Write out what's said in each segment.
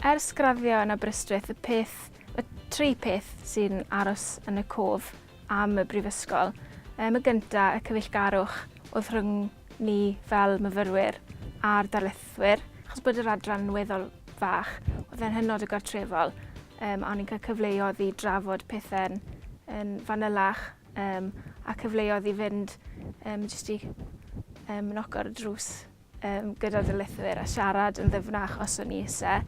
Ers graddio yn Aberystwyth, y peth, y tri peth sy'n aros yn y cof am y brifysgol. Ym y gynta, y cyfeillgarwch oedd rhwng ni fel myfyrwyr a'r darlithwyr, achos bod yr adran yn weddol fach, oedd e'n hynod o gartrefol, um, a o'n i'n cael cyfleoedd i drafod pethau'n yn fanylach, um, a cyfleoedd i fynd um, jyst i um, noco'r drws um, gyda darlithwyr a siarad yn ddyfnach os o'n i eisiau.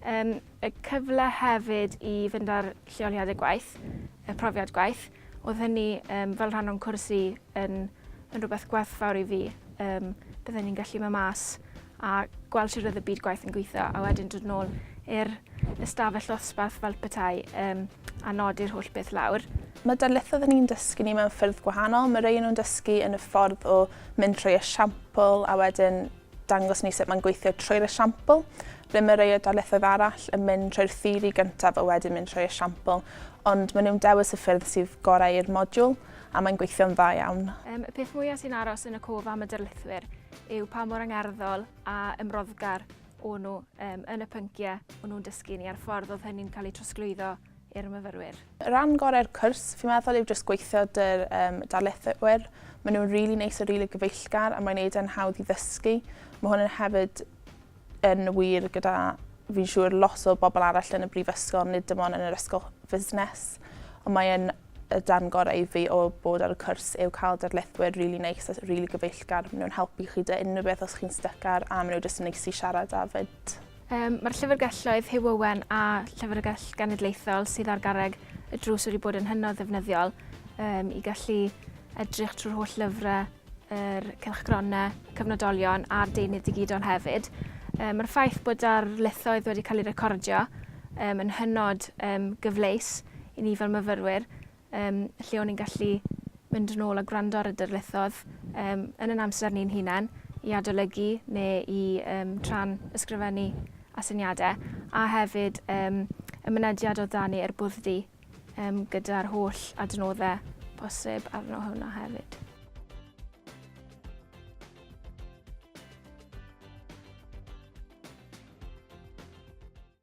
Um, y cyfle hefyd i fynd â'r lleoliadau gwaith, y profiad gwaith. Oedd hynny um, fel rhan o'n cwrs i yn, yn rhywbeth gwerthfawr i fi. Um, byddwn ni'n gallu mynd mas a gweld sut oedd y byd gwaith yn gweithio a wedyn dod nôl i'r ystafell ddosbarth fel petai um, a nodi'r holl beth lawr. Mae darlithoedd yn ni'n dysgu ni mewn ffyrdd gwahanol. Mae rei nhw'n dysgu yn y ffordd o mynd trwy esiampl a wedyn dangos ni sut mae'n gweithio trwy'r esiampl. Ble mae rhai o darlithoedd arall yn mynd trwy'r theori gyntaf a wedyn mynd trwy'r esiampl, ond maen nhw'n dewis y ffyrdd sydd gorau i'r modiwl a mae'n gweithio'n dda iawn. Um, y peth mwyaf sy'n aros yn y cof am y darlithwyr yw pa mor angerddol a ymroddgar o'n nhw um, yn y pynciau o'n nhw'n dysgu ni a'r ffordd oedd hynny'n cael ei trosglwyddo i'r myfyrwyr. Rhan gorau'r cwrs fi'n meddwl yw jyst gweithio dy'r um, darlithwyr. Maen nhw'n rili really neis a rili really gyfeillgar a mae'n neud e'n hawdd i ddysgu. Mae hwn yn hefyd yn wir gyda fi'n siŵr lot o bobl arall yn y brifysgol, nid dim ond yn yr ysgol fusnes. Ond mae'n y darn gorau i fi o bod ar y cwrs yw cael darlithwyr rili really neis a rili really gyfeillgar. Maen nhw'n helpu chi dy unrhyw beth os chi'n styc ar a maen nhw jyst yn neis i siarad â fyd. Yym, mae'r Llyfrgelloedd Huw Owen a Llyfrgell Genedlaethol sydd ar garreg y drws wedi bod yn hynod ddefnyddiol um, i gallu edrych trwy'r holl lyfrau, yr cylchgronau, cyfnodolion a'r deunydd digidol hefyd. Um, Mae'r ffaith bod ar lethoedd wedi cael ei recordio um, yn hynod um, gyfleus i ni fel myfyrwyr Yym, lle o'n i'n gallu mynd yn ôl a gwrando ar y darlithoedd um, yn yn amser ni'n hunain i adolygu neu i um, tran ysgrifennu asyniadau a hefyd um, y mynediad o dani er bwdddi um, gyda'r holl adnoddau posib arno hwnna hefyd.